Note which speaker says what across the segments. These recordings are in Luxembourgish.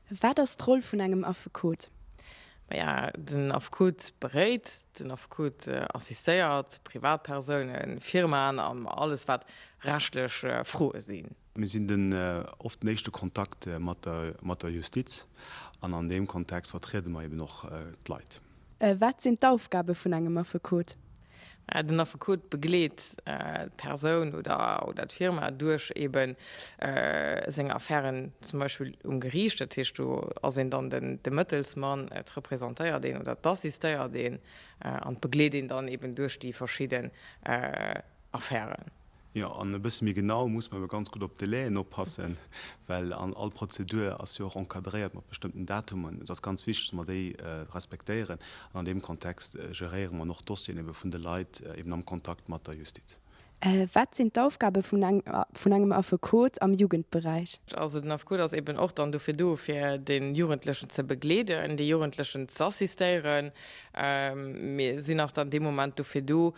Speaker 1: Wat ass d'Roll vun engem Affekot? Maja,
Speaker 2: den Affekot beréit, den Affekot assistéiert Privatpersounen, Firmaen an alles wat rechtlech Froe sinn. Mir sinn den
Speaker 3: oft den éischte Kontakt mat der Justiz an an deem Kontext vertriede mer eben och d'Leit. Wat sinn
Speaker 1: d'Aufgabe vun engem Affekot? Den
Speaker 2: Affekot begleet d'Persoun oder d'Firma duerch eebe seng Affären zum Beispill um Geriicht. Dat heescht, do ass een dann de Mëttelsmann, et representéiert een oder et assistéiert een an begleet een dann eeben duerch déi verschidden Affären. Jo,
Speaker 3: an e bësse méi genau muss mer jo ganz gutt op d'Délai'en oppassen, well an all Prozedur ass jo och encadréiert mat bestëmmten Datummen. Et ass ganz wichteg, dass mer déi respektéieren an an deem Kontext geréiere mer och d'Dossieren ebe vun de Leit eben am Kontakt mat der Justiz. Wat sinn
Speaker 1: d'Aufgabe vun engem Affekot am Jugendberäich? Also den Affekot ass
Speaker 2: eben och dann dofir do, fir de Jugendlechen ze begleeden, de Jugendlechen z'assistéieren. Mir sinn och dann dee Moment dofir do,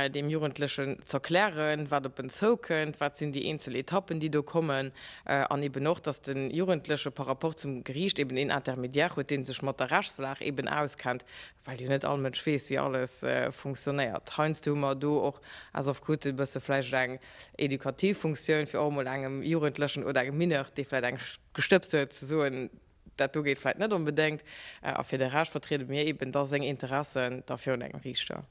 Speaker 2: deem Jugendlechen z'erklären, wat op en zoukënnt, wat sinn déi eenzel Etappen, déi do kommen, an eben och, dass de Jugendleche par rapport zum Geriicht eben een Intermédiaire huet, dee sech mat der Rechtslag eben auskennt, well jo net all Mënsch weess, wéi alles funktionéiert. Heiansdo hu mer do och aus Affekoten e bësse vläicht eng edukativ Funktioun, fir och emol engem Jugendlechen oder engem Mineur, dee vläicht eng gestëbst huet, ze soen, Dat do geet vläit net onbedéngt. A fir de Rescht vertriede mir eben da seng Interessen da virun engem Riichter.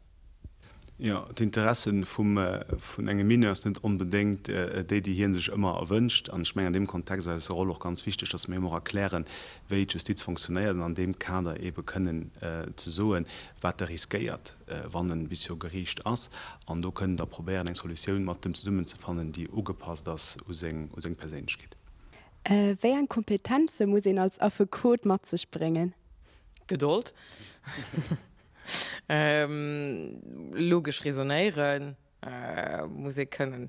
Speaker 2: Jo,
Speaker 3: d'Interesse vun engem Mineur ass net onbedéngt déi, déi hie sech ëmmer erwënscht. An ech mengen an deem Kontext ass eis Roll och ganz wichteg, datt mir him och erklären, wéi d'Justiz fonctionnéiert, an an deem Kader ebe kënnen ze soen, wat e riskéiert, wann e bis viru Geriicht ass. An do kënnen da probéieren, eng Solutioun mat em zesummen ze fannen, déi ugepasst ass u seng Perséinlechkeet. Wéi
Speaker 1: eng Kompetenze muss een als Affekot mat sech bréngen? Gedold,
Speaker 2: logesch Resonéiere muss ee kënnen,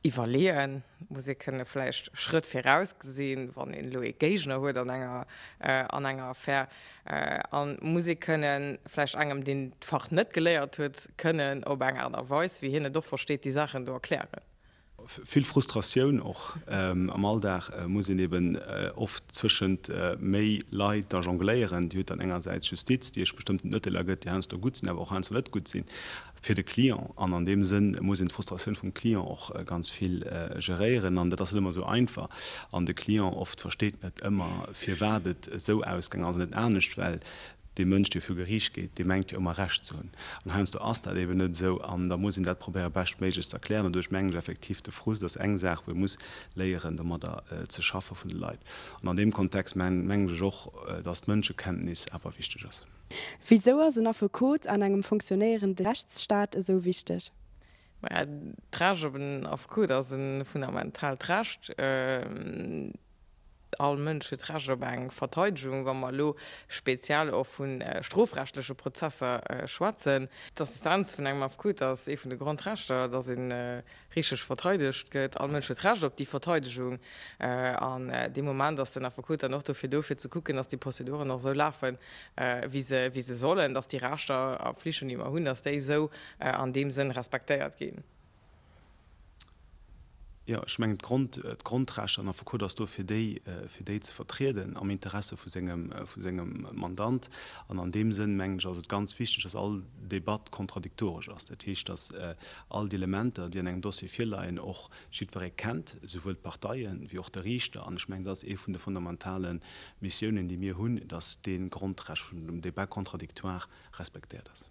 Speaker 2: iwwerleeë muss ee kënne, vläicht Schrëtt viraus gesinn, wann een elo ee Géigner huet an enger Affär. A muss ee kënnen, vläicht engem, deen d'Fach net geléiert huet, kënnen op eng Aart a Weis, wéi hien et och versteet, déi Saachen do erklären. Vill
Speaker 3: Frustratioun och am Alldag, muss een eben oft zwëschent méi Leit da jongléieren. Dir hutt dann engersäits d'Justiz, déi iech bestëmmten Urteeler gëtt, déi heiansdo gutt sinn, awer och heiansdo net gutt sinn fir de Client. An an deem Sënn muss een d'Frustratioun vum Client och ganz vill geréieren. An dat ass net ëmmer esou einfach. An de Client oft versteet net ëmmer, firwat et esou ausgaangen ass an net anescht, well Dee Mënsch, dee viru Geriicht geet, dee mengt jo ëmmer Recht ze hunn. An heiansdo ass dat eben net esou. An da muss een dat probéiere beschtméiglech ze erklären. An do ech mengen ech effektiv, de Frust ass eng Saach, wou ee muss léieren domadder ze schaffe vun de Leit. An an deem Kontext mengen ech och, datt d'Mënschekenntnis awer wichteg ass. Wisou ass en
Speaker 1: Affekot an engem funktionéierende Rechtsstaat esou wichteg? Maja,
Speaker 2: d'Recht op en Affekot ass e fundamentaalt Recht. All Mënsch huet Recht op eng Verteidegung, wa mer elo speziell och vu strofrechtleche Prozesser schwätzen. D'Assistenz vun engem Affekot ass ee vun de Grondrechter, datt ee richteg verteidegt gëtt. All Mënsch huet Recht op déi Verteidegung. An dee Moment ass den Affekot dann och dofir do, fir ze kucken, datt déi Prozeduren och esou lafen, wéi se sollen, datt déi Rechter a Pflichten, déi mer hunn, datt déi esou an deem Sënn respektéiert ginn.
Speaker 3: Jo, ech mengen, d'Grond, d'Grondrechter, den Affekot ass do, fir déi, fir déi ze vertrieden am Interesse vu sengem, vu sengem Mandant. An an deem Sënn, mengen ech, ass et ganz wichteg, datt all Debatt kontradiktoresch ass. Dat heescht, datt all d'Elementer, déi an engem Dossier virleien, och jiddweree kennt, souwuel d'Parteien wéi och de Riichter. An ech mengen, dat ass ee vun de fondamentale Missiounen, déi mir hunn, datt dee Grondrecht vum Débat contradictoire respektéiert ass.